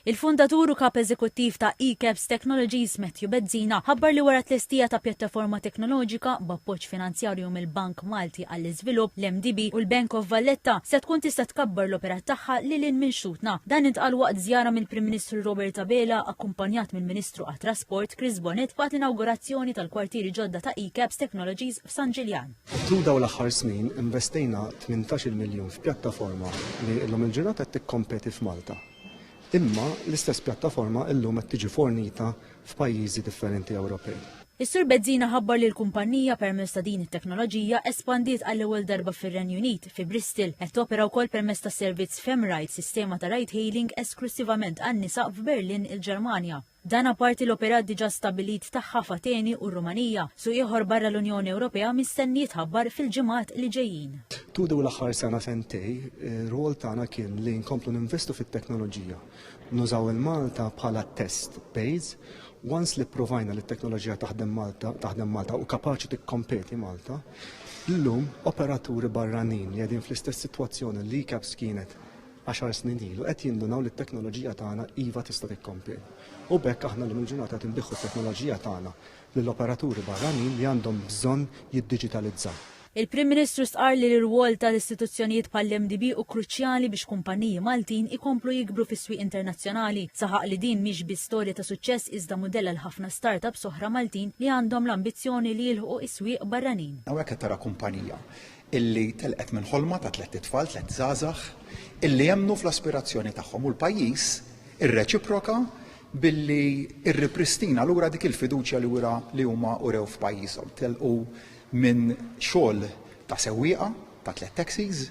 Il-fundatur u Kap Eżekuttiv ta' ECAPS Technologies, Matthew Bezzina, ħabbar li wara t-tlestija ta' pjattaforma teknoloġika, b'appoġġ finanzjarju mill-Bank Malti għall-Iżvilupp, l-MDB, u l-Bank of Valletta, se tkun tista' tkabbar l-operat tagħha lil hinn minn xtutna. Dan intqal waqt żjara mill-Prim Ministru Robert Abela, akkumpanjat mill-Ministru għat-Trasport, Chris Bonett, waqt l-inawgurazzjoni tal-kwartieri ġodda ta' ECAPS Technologies f'San Ġiljan. Tul dawn l-aħħar snin investejna 18-il miljun f'pjattaforma li llum il-ġurnata qed tikkompeti f'Malta. Imma l-istess pjattaforma llum qed tiġi fornita f'pajjiżi differenti Ewropej. Is-Sur Bezzina ħabbar li l-kumpannija permezz ta' din it-teknoloġija espandiet għall-ewwel darba fir-Renju Unit, fi Bristol. Qed topera wkoll permezz tas-servizz FemRide, sistema ta' ride-hailing esklussivament għan-nisa f'Berlin, il-Ġermanja. Dan apparti l-operat diġà stabbilit tagħha f'Ateni u r-Rumanija, suq ieħor barra l-Unjoni Ewropea mistenni jitħabbar fil-ġimgħat li ġejjin. Tul dawn l-aħħar sena sentej, ir-rwol tagħna kien li nkomplu ninvestu fit-teknoloġija, nużaw il-Malta bħala test base. Once li pprovajna li t-teknoloġija taħdem Malta, taħdem Malta u kapaċi tikkompeti Malta, llum operaturi barranin li qegħdin fl-istess sitwazzjoni li CAPS kienet għaxar snin ilu qed jindunaw li t-teknoloġija tagħna iva tista' tikkompeti. U b'hekk aħna llum il-ġurnata qed inbiħħu t-teknoloġija tagħna lil operaturi barranin li għandhom bżonn jiddiġitalizzaw. Il-Prim Ministru stqarr li l-irwol ta' istituzzjonijiet bħall-MDB hu kruċjali biex kumpanniji Maltin ikomplu jikbru fis-swieq internazzjonali. Saħaq li din mhix biss storja ta' suċċess iżda mudell għal ħafna startups oħra Maltin li għandhom l-ambizzjoni li jilħqu is-swieq barranin. Hawnhekk qed tara kumpanija illi telqet minn ħolma ta' tlett itfal, tlett żgħażagħ, illi emmnu fl-aspirazzjoni tagħhom u l-pajjiż irreċiproka billi rripristina lura dik il-fiduċja li wera li huma urew f'pajjiżhom. Telqu minn xogħol ta' sewwieqa ta' tlett taxis,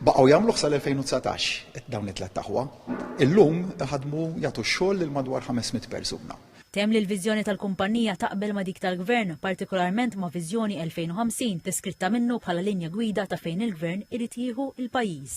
Baqgħu jagħmluh sal-2019 dawn it-tlett aħwa. Illum iħaddmu jagħtu x-xogħol lil madwar 500 persuna. Temm li l-viżjoni tal-kumpannija taqbel ma' dik tal-Gvern, partikolarment ma' Viżjoni 2050 deskritta minnu bħala linja gwida ta' fejn il-Gvern irid jieħu l-pajjiż.